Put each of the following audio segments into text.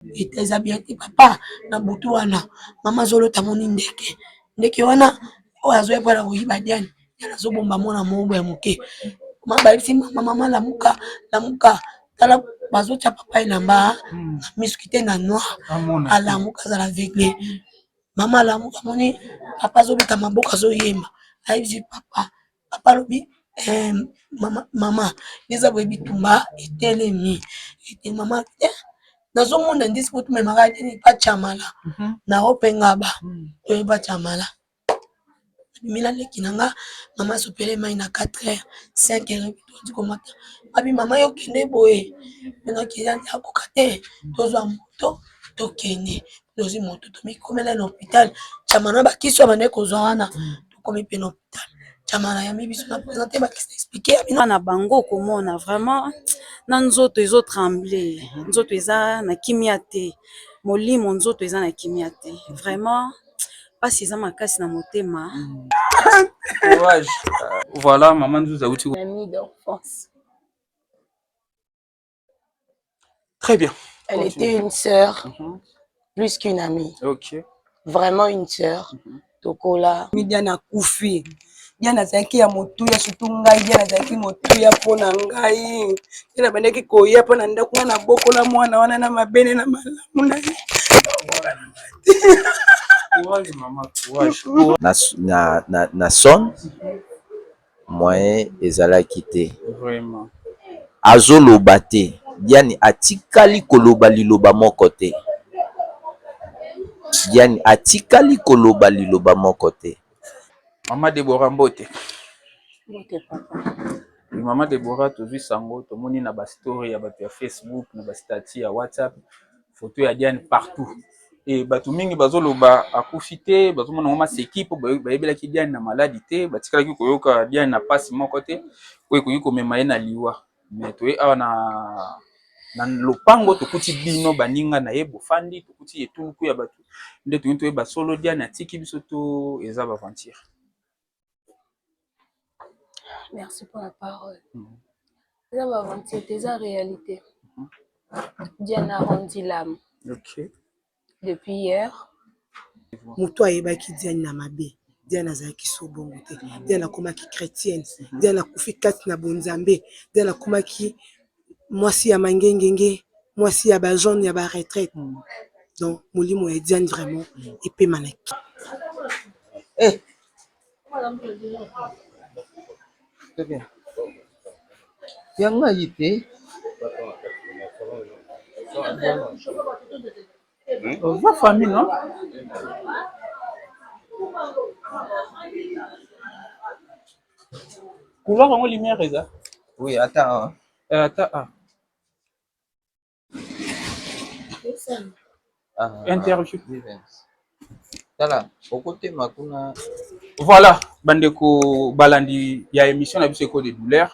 Vita eza bien te papa na butu wana mama azolota amoni ndeke ndeke wana oyo azoya mpona koyiba diane diane azobomba mwana mogo ya moke mabayebisi mama mama lamuka lamuka tala bazotya papa elamba na misu kite na noir alamuka azala vegle mama alamuka amoni papa azobeta maboko azoyemba ayebisi papa papa alobi eh, mama, mama eza boye bitumba etelemi ete mama eh, nazomona ndisi kotumemaka te pacamala mhm. na opengaba mhm. toye pacamala bimila leki na nga mama asopele mai na 4 heures 5 heures tondi komata abi mama yo kende boye nakenda akoka te tozwa moto tokende tozwi moto tomikomela na hôpital camana bakisi ya bande kozwa wana tokomi mpe na na bango komona vrema na nzoto ezo trembler nzoto eza na kimia te molimo nzoto eza na kimia te vrema mpasi eza makasi na motema Très bien. Elle Continue. était une sœur, mm -hmm. plus qu'une amie. Ok. Vraiment une sœur. Mm -hmm. Tokola. Midiana Koufi. Diana azalaki ya motuya surtout ngai Diana azalaki motuya mpo na ngai ye nabandaki koya mpo na ndako wana nabokola mwana wana na mabele na malamu na ye na, na, na son Moyen ezalaki te. Vraiment. Azo loba te. Diane atikali koloba liloba moko te. Diane atikali koloba liloba moko te. Maman Deborah mbote. Mbote papa. Maman Deborah tozui sango tomoni na ba story ya batu ya Facebook na ba statut ya WhatsApp Photo ya Diane partout. Et bato mingi bazoloba akufi te, bazomona yango maseki mpo bayebelaki Diane na maladi te, batikalaki koyoka Diane na mpasi moko te oyo ekoki komema ye na liwa. Mais toye awa na na lopango tokuti bino baninga na ye bofandi, tokuti etuluku ya bato nde toyini toyeba solo Diane atiki biso to eza ba aventure. merci pour la parole eza ba aventure te eza realite diana rondi lame okay. depuis hier moto ayebaki diane na mabe diane azalaki so bongo te diane akomaki chrétienne diane akufi kati na bonzambe diane akomaki mwasi ya mangengenge mwasi ya bajaune ya baretraite hmm. donc molimo ya diane vraiment epema na ki eh. ya ngai te oza famille non couloir yango lumière eza oui ata awa eh, ata awa interview tala okotema kuna voilà bandeko balandi ya émission na biso eko de douleur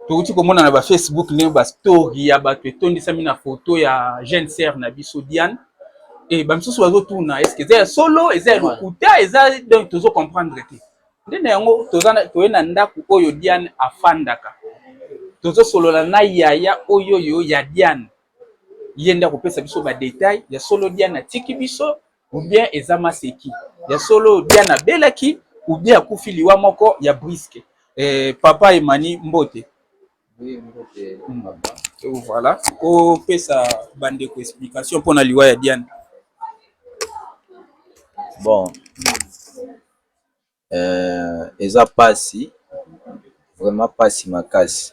tokuti komona na bafacebook ndenge bastory ya bato etondisami na foto ya jeune sere na biso diane e bamisusu bazotuna eske eza ya solo eza ya lokuta eza donc tozo comprendre te nde na yango toza toye na ndako oyo Diane afandaka tozosolola na yaya oyo oyo ya Diane ye nde akopesa biso ba detail ya solo Diane atiki biso ou bien eza maseki ya solo Diane abelaki ou bien akufi liwa moko ya briske eh, papa Emani mbote hmm. oh, voilà opesa bandeko explication mpo na liwa ya Diane bon eza pasi vraiment pasi makasi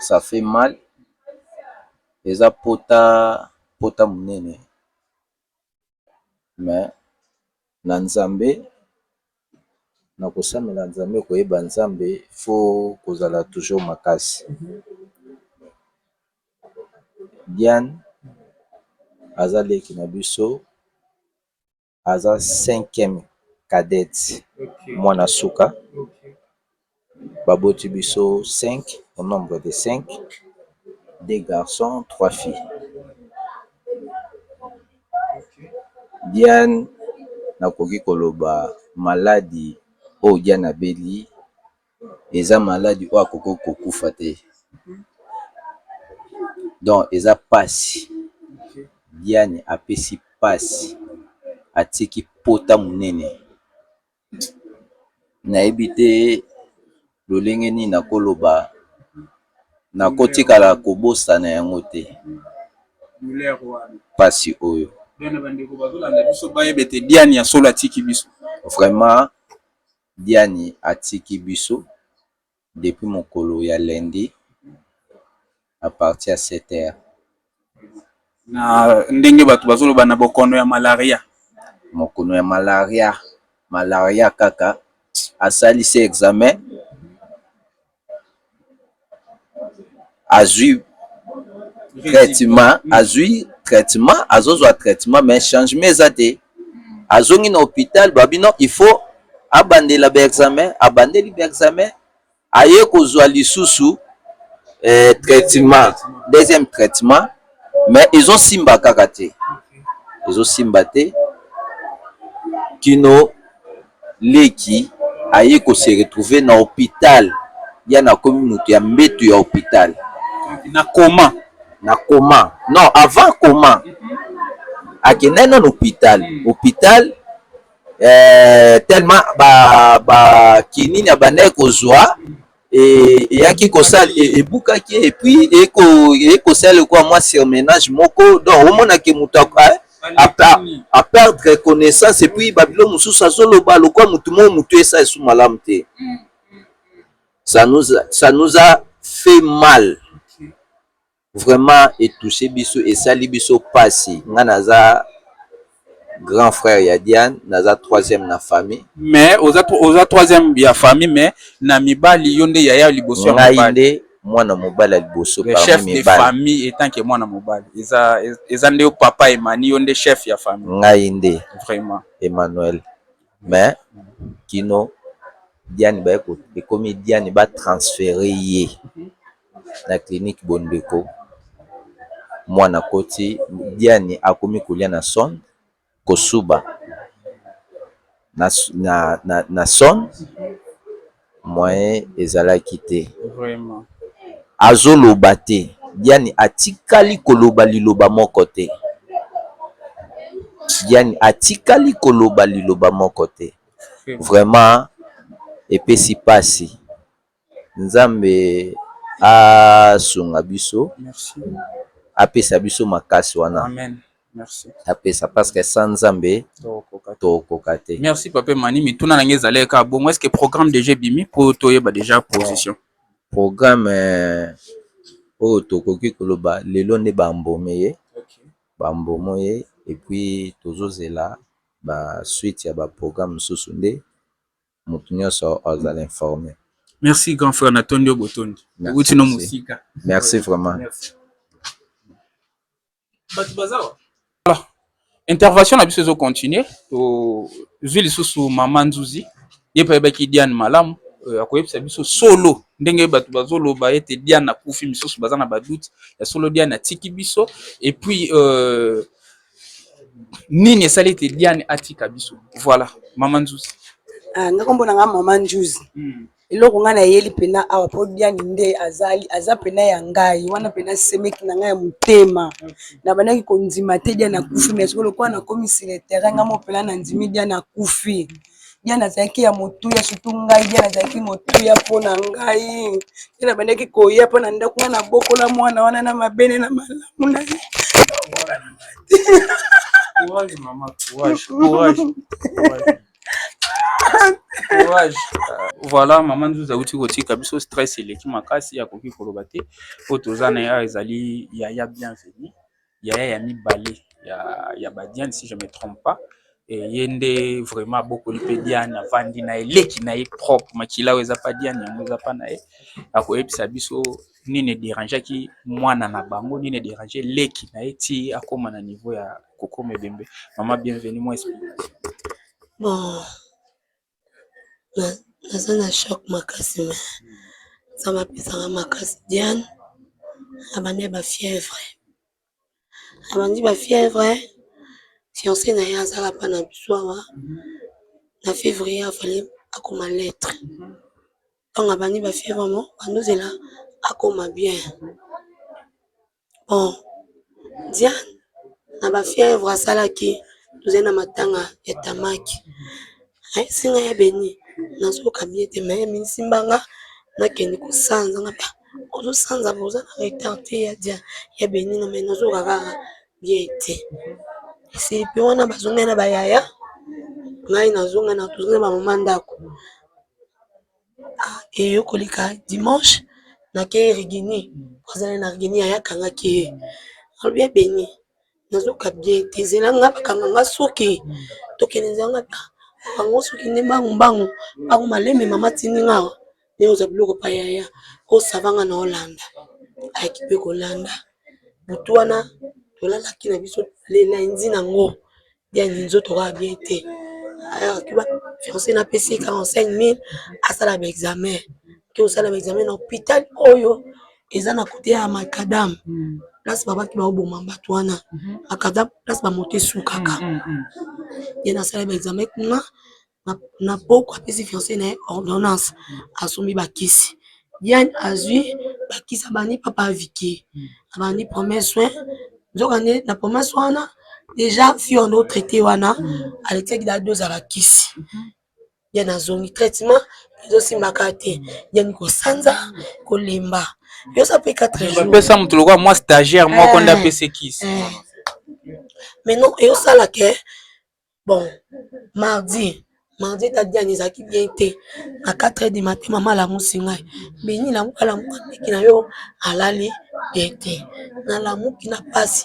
ça fait mal eza pota, pota munene mais na nzambe na kosambela nzambe koyeba nzambe faut kozala toujours makasi Diane aza leki na biso. aza cinquième cadette mwana suka ba boti biso cinq au nombre de cinq deux garçons trois filles Diane nakoki koloba maladi oyo Diane abeli eza maladi oyo akoki kokufa te donc eza pasi diane apesi pasi atiki pota monene nayebi te lolenge nini nakoloba nakotikala kobosana yango te pasi oyo diane ya solo atiki biso vraiment Diani atiki biso depuis mokolo ya lundi à partir ya sept heures. Na ndenge batu bazo loba na bokono ya malaria. Mokono ya malaria, malaria kaka asali se examen. azui traitement azui traitement azozwa traitement mais changement eza te azongi na hopital babi non il faut abandela ba examen abandeli ba examen aye kozwa lisusu eh, traitement deuxième traitement mais ezosimba kaka te ezosimba te kino leki aye ko se retrouver na hopital ya na komi mutu ya mbetu ya hopital na coma na coma non avant coma akendaki nanu hopital hopital eh telment ba ba kinini abandaki kozua eyaki kosala ebukaki epuis eye kosala lokola mwa surmenage moko donc omonake moto a perdre connaissance epuis babilo mosusu azoloba lokola motu moko motu esa esu malamu te sa nous a fait mal Vraiment e touche biso esali biso pasi nga naza grand frère ya Diane naza troisième na famille. Mais oza oza troisième ya famille mais na mibali yo nde yaya liboso ya mibali. Ngai nde mwana mobali ya liboso parmi mibali. Chef de famille etant que mwana mobali eza eza nde yo papa Emani yo nde chef ya famille. Ngai nde vraiment Emmanuel mais kino Diane ba ekomi Diane ba transfere ye. Mm -hmm. Na clinique bondeko mwana akoti diane akomi kolia na son kosuba na son moyen ezalaki te azoloba te diane atikali koloba liloba moko te diane atikali koloba liloba moko te vraiment epesi pasi. Nzambe asunga biso apesa biso makasi wana apesa parceke sa nzambe tokoka te. Merci papa Emani mituna na ngai ezali kaka bongo eske programme deja ebimi po toyeba deja position programme euh, oyo tokoki koloba lelo nde bambome ye bambomo ye epuis tozozela basuite ya baprogramme mosusu nde mutu nionso azala informe. Merci grand frère na tondi yo botondi owuti no mosika merci vraiment merci. Batu baza wa voilà intervention na biso ezo continuer to zui lisusu mama nzuzi ye mpe ayebaki Diane malamu euh, akoyebisa biso solo ndenge bato bazoloba ete Diane akufi misusu baza na badoute ya solo Diane atiki biso et puis euh, Nini esali ete Diane atika biso? Voilà, maman Nzuzi. Ah, nga kombo na nga maman Nzuzi. Mm. Eloko nga nayeli pena awa po Diane nde azali aza pena ya ngai wana pena semeki na ngai ya motema. Okay. Na bandaki kondima te Diane akufi mais sikoyo lokola nakomi sur le terrain nga mo pena nandimi Diane akufi. bien nazalaki ya motuya surtout ngai bien nazalaki motuya mpona ngai te nabandaki koya mpona ndako wana nabokola mwana wana na mabele na malamu na ye Courage, maman, courage, courage, courage. courage voilà mama nzuzi auti kotika biso stress eleki makasi akoki koloba te oyo toza na ya ezali yaya bienvenu yaya ya mibale ya ba Diane si je me trompe pas ye nde vraiment abokoli mpe Diane avandi na ye leki na ye propre makila oyo eza pa Diane yango eza pa na ye akoyebisa biso nini e derangeaki mwana na bango nini e derange leki na ye ti akoma na niveau ya kokoma ebembe maman bienvenue mua explication. Bon naza na choc makasi mais nzambe apesa nga makasi Diane abandi ba fièvre abandi ba fièvre fiance na ye aza lapa na biso awa na fevrier afale akoma lettre ntango abandi ba fièvre mo bandozela akoma bien Bon Diane na ba fièvre asalaki tozali na matanga ya tamaki ayebisi nga y'a Beni nazoyoka bien te mais mi simba nga nakende ko sanza nga pe ah ozo sanza mais oza na retard te y'a Diane y'a Beni nga mais nazo yoka kaka bien te esili pe wana ba zonga na ba yaya ngai nazo zonga na ba mama ndako eyokoleka dimanche na ke rigini azala na rigini ya yaka nga ke alobi ya beni nazoka bien te zela nga bakanga nga suki tokende zanga ta bango suki nde mbangu mbangu bango maleme mama tindi nga awa ne oza biloko pa yaya osavanga na olanda ayaki pe kolanda butu wana tolalaki na biso lendi na ngo bien nini nzoto kaka bien te fiance na pesi ye 45000 asala ba examen ake kosala ba examen na hopital oyo eza na kote ya macadam place babaki baoboma bato wana macadam place bamoto esukaka ye nasala ba examen kuna na pokwa apesi fiance na ye ordonnance asombi ba kisi Diane azui ba kisi abandi papa Vicky abandi premier soin nzoka nde na premier soin wana dejà fille wana o traite wana alekisaki dejà dose ya ba kisi Diane azongi traitement ezo simba kaka te Diane ko sanza ko lemba yosa pe 4 jours ba pesa mutu lokola moi stagiaire moko nda pesi kisi mais non ezo sala que Bon mardi, mardi date ya ezalaki bien te na 4 heures du matin mama alamusi ngai Beni lamuka lamuka leki na yo alali bien te, nalamuki na pasi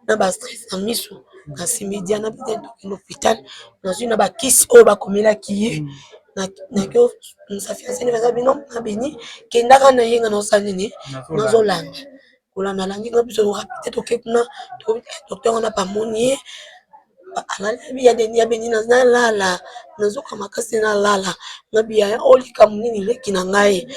na ba stress na misu nasimbi Diana mpe tokende na hopital nazwi na ba kisi oyo bakomelaki ye nake musafiri asali na bino na Beni kendaka na ye nga nazo sala nini? Nazolanda kolanda landi nga biso rapide toke kuna docteur wana bamoni ye alaliabiyadeniabeni nazalala nazoka makasi nalala na biyaya o likambo nini leki na ngai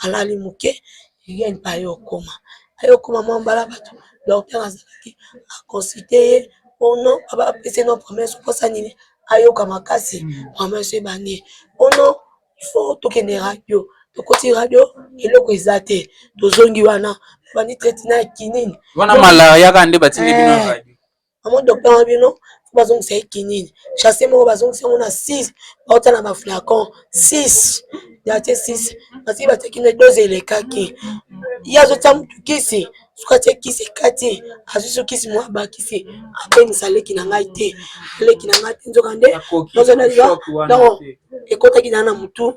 alali moke yen pa ye okoma aye okoma mwa mbala bato docteur azalaki aconsulte ye ono abapeseno promese mposa nini ayoka makasi promese ebandi ono il faut tokende radio tokoti radio eloko eza te tozongi wana bandi traite na kinini wana malaria kaka nde batindi bino eh, radio amo docteur na bino bazongisa ye kinini chasse moko bazongisa yango na 6 bauta na baflacon 6 ya te 6 basili batekine dose elekaki ye azotia motu kisi soki atie kisi ekati azwi so kisi mwa bakisi apemisa leki na ngai te leki na ngai te nzoka nde nazonaliba donc ekotaki naa na motu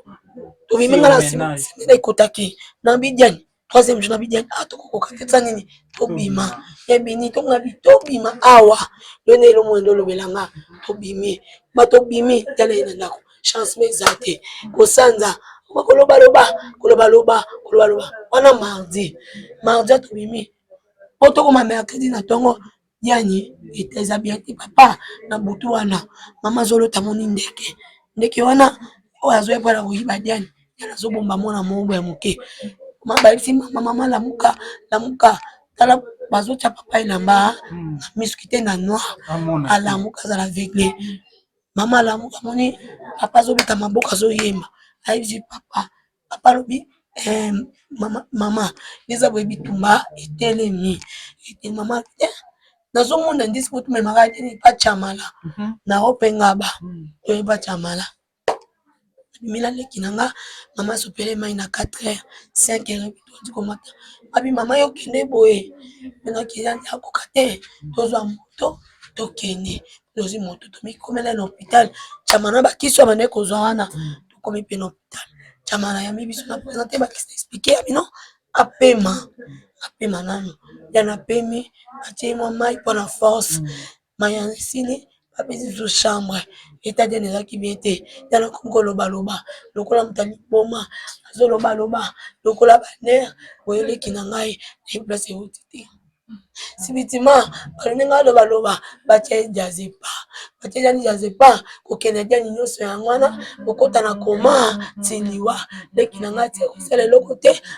tobimi ngai na nsima sendela ekotaki na bidiani troisième jour na bidiani a ah, tokokoka te tsa nini tobima ebini tongabi tobima awa yo nde elomoi nde olobela nga tobimi ba tobimi tala ye na ndako chancement eza te kosanza kolobaloba kolobaloba kolobaloba wana mardi mardi atobimi po tokoma mercredi na ntongo yani eta eza bien te papa na butu wana mama azolota moni ndeke ndeke wana oyo azoya mpona koyiba diane diane azobomba mwana moombo ya moke mabayebisi mama mama lamuka lamuka tala bazotya papa elamba na miskite na noir alamuka azala vegle Mama alamuka amoni papa azobeta maboko azoyemba ayebisi papa, papa alobi eh, mama, mama eza boye bitumba etelemi ete mama eh, nazomona ndisi po tumemaka teni pachamala mhm. na opengaba mhm. toyeba chamala bimi na leki na nga mama asopele mai na 4 heure 5 heure tokoki komata abi mama yo kende boye nakei akoka te tozwa moto tokende tozwi moto tomikomela na hopital cama na bakisi ya bandai kozwa wana tokomi mpe na hopital cama na yambi biso na presente bakisi na explike ya bino apema apema nano ya na pemi atie mwa mai mpona force Mayanga esili bapesi biso chambre etadele ezalaki bien te tala komi koloba loba lokola moto ya liboma azoloba loba lokola ba nerfs boye leki na ngai nayebi place ewuti te subitement baluki ngai aloba loba batie jazz epa batie nani jazz epa kokende diani nyonso yango wana kokota na koma ti liwa leki na ngai atie kosala eloko te.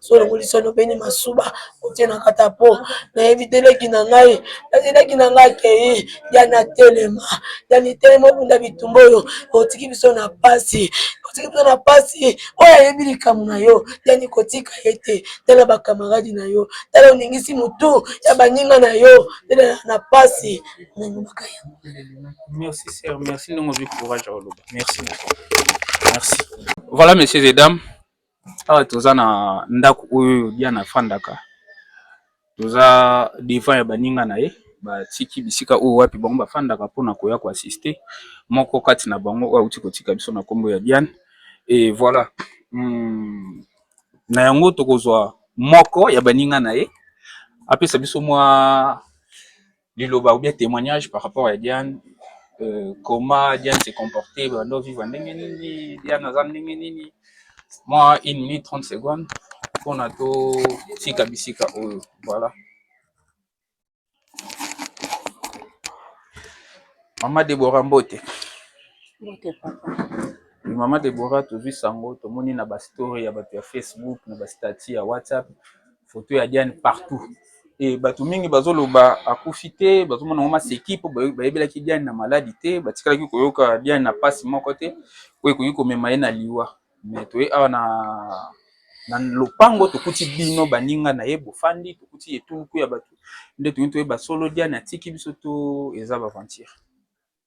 solongolisa lobeni masuba otie na kata po nayebi te leki na ngai kasi leki na ngai akei ya na telema ya nitelema obunda bitumba oyo otiki biso na pasi otiki biso na pasi oyo ayebi likambo na yo yani kotika ye te tala bakamaradi na yo tala oningisi motu ya baninga na yo tela na pasi nalobaka yango merci sir merci ndenge ozwi courage ya koloba merci merci voilà messieurs et dames Awa toza na ndako oyo Diana afandaka toza devant ya baninga na ye batiki bisika oyo wapi bango bafandaka mpona koya ko asiste moko kati na bango oyo auti kotika biso na nkombo ya Diane e voila na yango tokozwa moko ya baninga na ye apesa biso mwa. liloba ou bien temoignage par rapport ya Diane euh, comment Diane se comporter bando vivre ndenge nini Diane aza ndenge nini moi une minute 30 secondes mpona totika bisika oyo voilà mama Deborah Mbote Mbote papa mama Deborah tozwi sango tomoni na bastory ya bato ya Facebook na bastati ya WhatsApp Photo ya Diane partout. Et batu mingi bazo loba akufi te, bazo mona ngo maseki po bayebelaki Diane na maladi te, batikalaki koyoka Diane na pasi moko te oyo ekoki komema ye na liwa. Mais toye awa na na lopango tokuti bino baninga na ye bofandi, tokuti etuluku ya batu nde tolingi toyeba solo Diane atiki biso to eza ba aventure?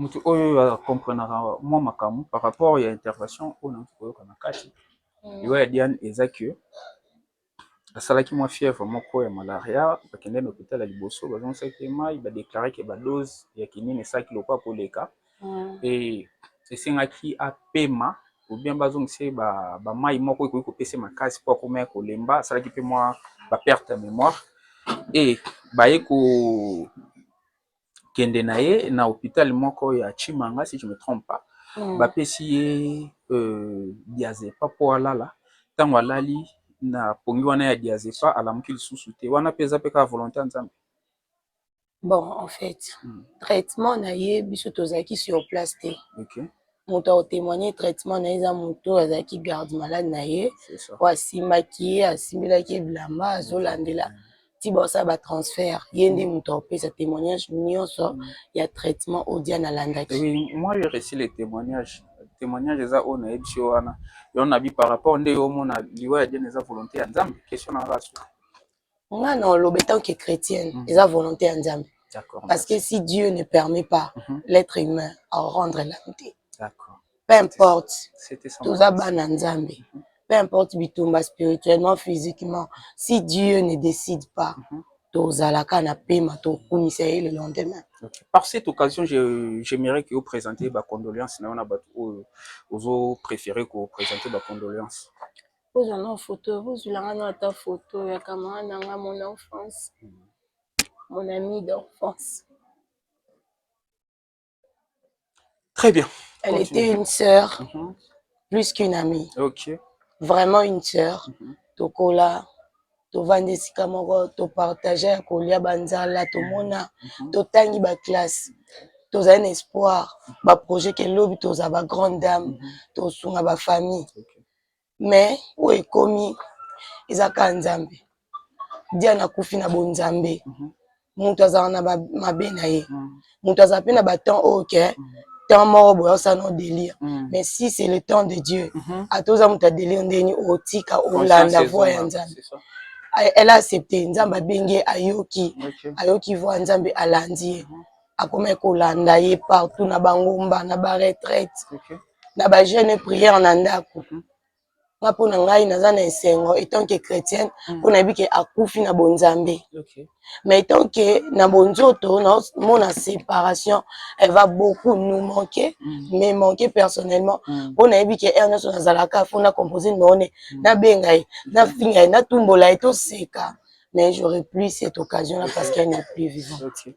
Mutu oyo a comprenaka mua makambu par rapport ya intervention oyo nazo koyoka na kati liwa ya Diane eza que asalaki mua fièvre moko ya malaria ba kendeki na hopital ya liboso ba zongisaki ye mayi ba declare que ba dose ya kinini esalaki lokola ko leka et esengaki a pema ou bien ba zongisa ye ba mayi moko ekoki ko pesa ye makasi po akomaki ko lemba, asalaki pe mua ba perte ya memoire et baye ko kende na ye na hopital moko ya chimanga si je me trompe pas bapesi ye diazepam po alala tangu alali na pongi wana ya diazepam alamuki lisusu te wana pe eza pe kaka volonte ya nzambe? Bon en faite traitement na ye biso tozalaki sur place te. moto ako temoigner traitement na ye eza moto oyo azalaki garde malade na ye oyo asimbaki ye asimbelaki ye bilamba azolandela ti baosala batransfert ye nde mm. moto akopesa témoignage nyonso mm. ya traitement oyo diane alandaki moi je réussi le témoignage témoignage eza oyo nayebisi yo wana yo nabi par rapport nde yo omona liwa ya diane eza volonté ya nzambe question na rasu nga na oloba etant que chrétienne mm -hmm. eza volonté ya nzambe parce que si dieu ne permet pas mm -hmm. l'être humain à rendre l'âme te peu importe toza bana nzambe mm -hmm. peu importe bitumba spirituellement physiquement si dieu ne décide pas mm -hmm. tozalaka na pema tokumisa ye le lendemain okay. par cette occasion j'aimerais que oprésente bacondoléance na yo na bato oyo ozo préféré koprésente bacondoléance Bozwa nao foto bozwila nga nao ata foto ya camarade na nga mon enfance mon ami d'enfance très bien elle Continue. était une sœur mm -hmm. plus qu'une amie okay. vraiment une sœur mm -hmm. tokola tovanda esika moko topartage ya kolia banzala tomona mm -hmm. totangi baklasse tozali na espoir baprojet ke lobi tozala bagrande dame mm -hmm. tosunga bafamille okay. mais oyo ekomi eza kaka nzambe diana akufi na bonzambe mhm. moto azala na mabe na ye mhm. moto azala mpe na batemps oyo ke mhm. temps moko boye osala no délire mais si c'est le temps de dieu ata oza moto ya délire ndeni otika olanda voi ya nzambe elle a accepté nzambe abengi ye ayoki ayoki voi ya nzambe alandi ye akomaki kolanda ye partout na bangomba na baretraite na ba jeune prière na ndako mhm. nga mpo na ngai naza na esengo etant que chrétienne mhm. mpo nayebi ke akufi na bonzambe mais etant que na bonzoto naomona séparation elle va beaucoup nous manquer mhm. mais manquer personnellement mpo nayebi ke heure nyonso nazalaka fo na compose numero ne nabenga ye nafinga ye natumbola ye toseka mais j'aurais plus cette occasion là parce qu'elle n'est plus vivante okay.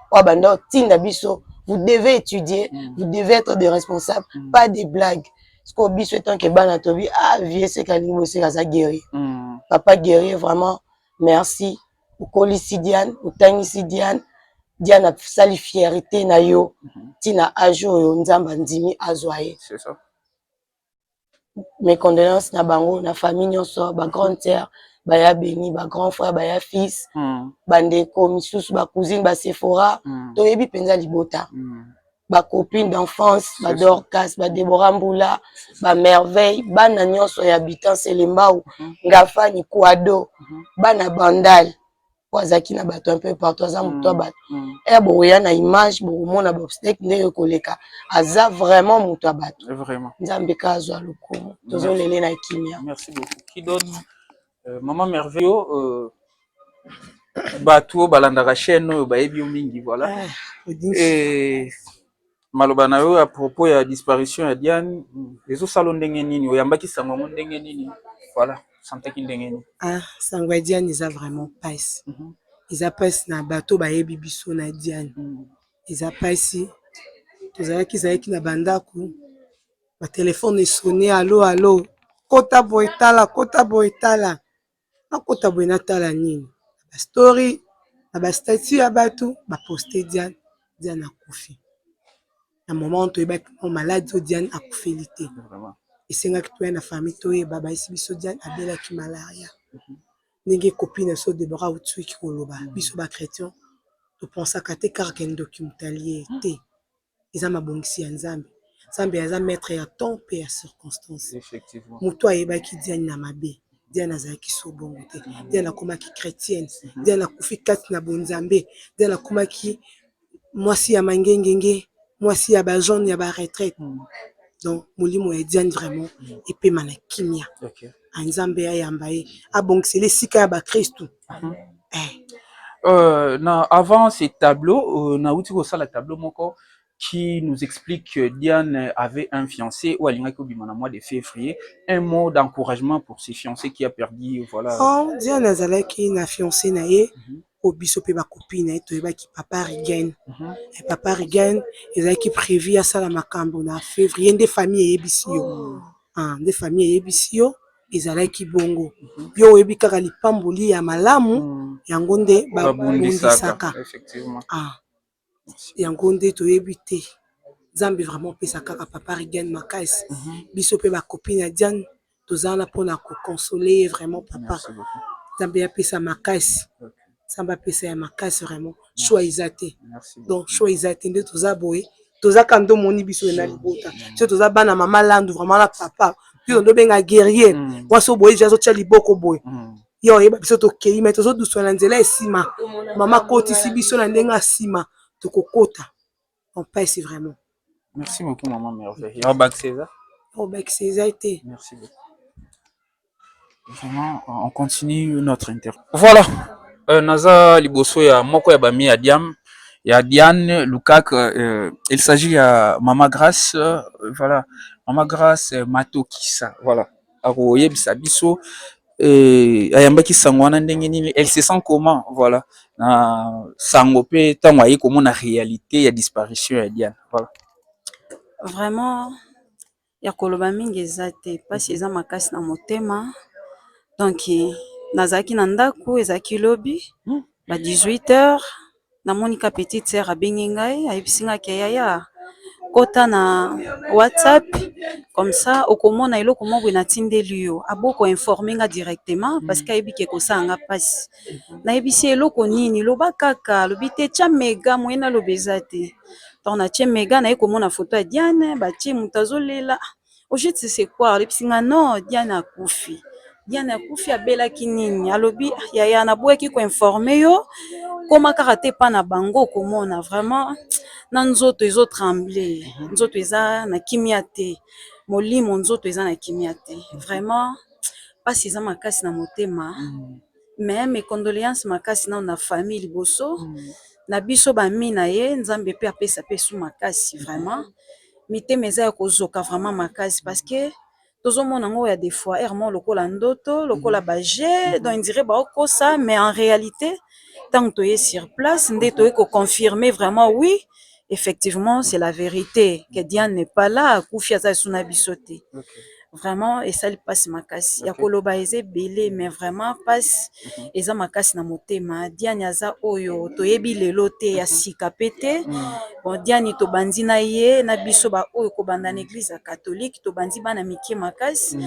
oyo banda otinda biso vous devez étudier mm. vous devez être de responsable mm. pas des blagues sikoyo biso etanke bana tobi ah vie seka alingi boseka aza guerrier mm. papa guerrier vraiment merci okolisi diane otangisi diane diane asali fierité na yo ntina mm-hmm. age oyo nzambe andimi azwa ye mes condoleances na bango na famille nionso ba grande sœur baya beni ba grand frère baya fils mm. ba ndeko misusu ba cousine ba sephora mm. toyebi mpenza libota mm. ba copine d'enfance ba dorcas ba debora mbula ba merveille bana nionso ya habitant selembao mm. ngafani quado mm. bana bandal po azalaki na bato un peu partout aza moto ya bato ere bokoya na image bokomona bobstek ndenge koleka aza vraiment moto ya bato nzambe ka azwa lokumu tozolele na kimia mama merveille bato oyo balandaka chaîne oyo bayebi yo mingi voilà maloba na yo ya propos ya disparition ya diane ezosala ndenge nini oyambaki sango yango ndenge nini voilà santaki ndenge nini ah sango ya diane eza vraiment pasi mm -hmm. eza pasi na bato bayebi biso na diane mm -hmm. eza pasi tozalaki ezalaki na bandako batelefone esone alo alo kota boye tala kota boye tala nakota boye natala nini ba story na ba statut ya batu ba poste Diane, Diane akufi na moment wana toyebaki mwa maladi oyo Diane akufeli te esengaki toya na famille toyeba bayebisi biso Diane abelaki malaria ndenge copine na biso Deborah Autshuki koloba biso ba chretien to pensaka te kaka ke ndoki moto alie ye te. eza mabongisi ya Nzambe. Nzambe aza maitre ya temps pe ya circonstance. Mutu ayebaki Diane na mabe, Diane azalaki sur bongo te. Diane akomaki chretienne, Diane akufi kati na bonzambe, Diane akomaki mwasi ya mangengenge, mwasi ya ba jeunes ya ba retraites. Donc molimo ya Diane vraiment epema na kimia. Ah, nzambe ayamba ye abongisela esika ya bakristu mhm. eh. euh, na avant ce tableau euh, nauti kosala tableau moko qui nous explique que Diane avait un fiancé ou Alingaki Obima na mois de février. Un mot d'encouragement pour ses fiancés qui a perdu, voilà. Oh, Diane azalaki na fiancé na ye. Mm -hmm. po biso pe ba copine na ye toyebaki papa Rigen et papa Rigen ezalaki prevu asala makambu na fevrier nde famille eyebisi yo? Aah nde famille eyebisi yo ezalaki bongo yo oyebi kaka lipamboli ya malamu yango nde ba bundisaka aah. yango nde toyebi te nzambe vraiment pesa kaka papa rigen makais biso pe ba copine ya diane toza wana mpona ko console ye vraiment papa nzambe ya pesa makais nzambe apesa ya makais vraiment sua eza te donc sua eza te nde toza boye toza ka nde omoni biso ena libota so toza bana mama landu vraiment na papa mpe ondo benga guerrier mwasi oboye azotia liboko boye ye oyeba biso tokei me tozoduswa na nzela esima mama akotisi biso na ndenge asima tokokota empese vraiment merci beaucoup mama merveille ya bakisa eza obakisa eza te merci beaucoup vraiment on continue notre interview voilà euh, naza liboso ya moko ya bami ya diam ya diane lukak euh, il s'agit ya mama grace euh, voilà mama grace euh, matokisa voilà akoyebisa biso ayambaki sango wana ndenge nini elle se sent comment voilà na sango pe tango aye komona realite ya disparition ya Diana voilà. Vraiment ya koloba mingi eza te pasi eza makasi na motema donc nazalaki na ndaku ezalaki lobi ba 18 heures namoni ka petite soeur abengi ngai ayebisi ngai ke yaya kota na whatsapp comme ça okomona eloko moko boye natindeli yo, aboyi ko informe nga directement parce que ayebi ke ekosala nga pasi, nayebisi ye eloko nini, loba kaka, alobi te tia mega moyen naloba eza te, donc natie mega naye komona photo ya Diane batie mutu azolela. au juste de c'est quoi olebisi nga non diana akufi diana akufi abelaki nini alobi "Ah, yaya naboyaki koinforme yo koma kaka te epa na bango okomona vraiment na nzoto ezo tremble nzoto eza na kimia te molimo nzoto eza na kimia te vraiment mpasi eza makasi na motema mais mes condoléances makasi nao na famille liboso na biso bami na ye nzambe pe apesa pe su makasi vraiment mitema eza ya kozoka vraiment makasi parce que tozomona ngo ya de fois heure moko lokola ndoto lokola ba jeux donc on dirait baokosa mais en realite ntango toye sur place nde toye ko confirmer vraiment oui effectivement c'est la verite que Diane n'est pas là akufi aza lisusu na biso te Vraiment esali pasi makasi ya koloba eza ebele mais vraiment pasi eza makasi na motema diani aza oyo toyebi lelo te ya sika pe te bon diani tobandi na ye na biso ba oyo kobanda na eglise ya catholique tobandi bana mike makasi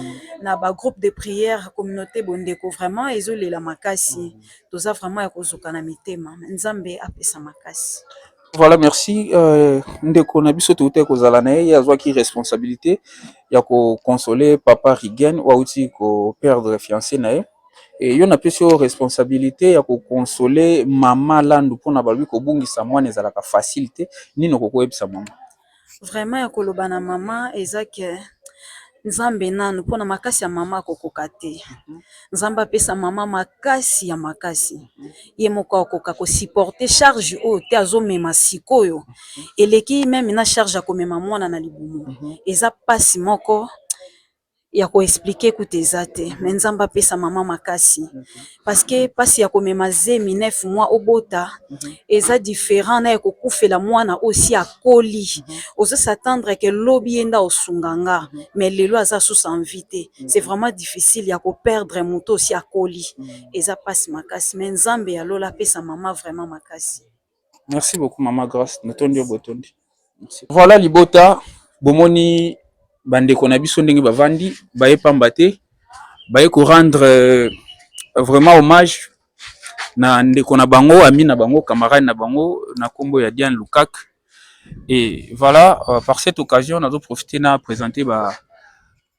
na ba groupe de prière communaute bondeko vraiment ezolela makasi toza vraiment ya kozoka na mitema nzambe apesa makasi. Voilà, merci. Euh, ndeko na biso touta kozala na ye azwaki responsabilité ya ko consoler papa Rigen wauti ko perdre fiancé na ye. Et yo napesi yo responsabilité ya ko consoler mama Landu mpona balobi kobungisa mwana ezalaka facile te. Nini okoki koyebisa mama? Vraiment ya koloba na mama eza que nzambe nanu pona makasi ya mama akokoka te nzambe apesa mama makasi ya makasi ye moko akoka ko suporter charge oyo te azomema sikoyo eleki meme na charge ya komema mwana na libumu eza mpasi moko. ya ko explique kutu eza te mais nzambe apesa maman makasi parce que pasi ya komema zemi neuf mois obota eza different na ya kokufela mwana oyo esi akoli ozo sa tendre que lobi ye nde akosunga nga mais lelo aza susu en vie te c'est vraiment difficile ya ko perdre moto oyo esi akoli eza pasi makasi mais nzambe ya lola apesa maman vraiment makasi. Merci beaucoup maman grace natondi yo botondi. Voilà libota bomoni bandeko na biso ndenge bavandi baye pamba te baye ko rendre euh, vraiment hommage na ndeko na bango ami na bango camarade na bango na nkombo ya Diane Lukak et voilà euh, par cette occasion nazo profiter na présenter ba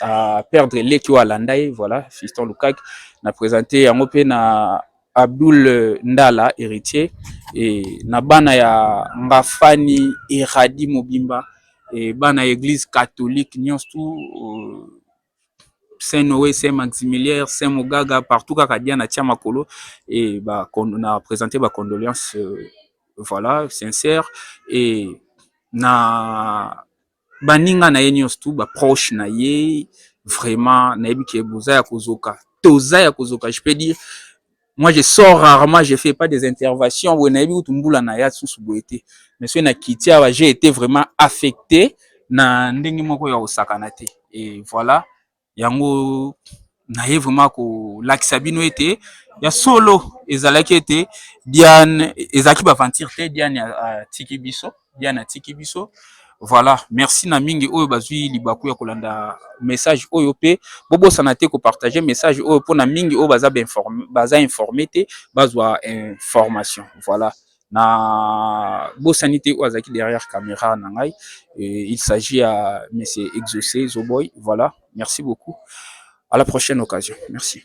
a perdre leki oyo alanda ye voilà fiston lukaki na presente yango mpe na abdul ndala héritier e, na bana ya ngafani eradi mobimba e, bana ya église catholique nyonso tu euh, saint noé saint maximilien saint mogaga partout kaka dia na tia makolo e ba, na presente ba condoléance euh, voilà sincère e na baninga na ye nyonso tu ba proche na ye vraiment nayebi ke boza ya kozoka toza ya kozoka je peux dire moi je sors rarement je fais pas des interventions boye nayebi kutu mbula na ya susu boye te mais soki na kiti awa j'ai été vraiment affecté na ndenge moko ya kosakana te et voilà yango naye vraiment kolakisa bino ete ya solo ezalaki ete Diane ezalaki ba aventure te Diane atiki biso Diane atiki biso voilà merci na mingi oyo bazwi libaku ya kolanda message oyo pe bobosana te ko partager message oyo mpona mingi oyo baza ba informe baza informe te bazwa information voilà na bosani te oyo azalaki derrière camera na ngai il s'agit ya monsieur exaucé zoboy voilà merci beaucoup à la prochaine occasion merci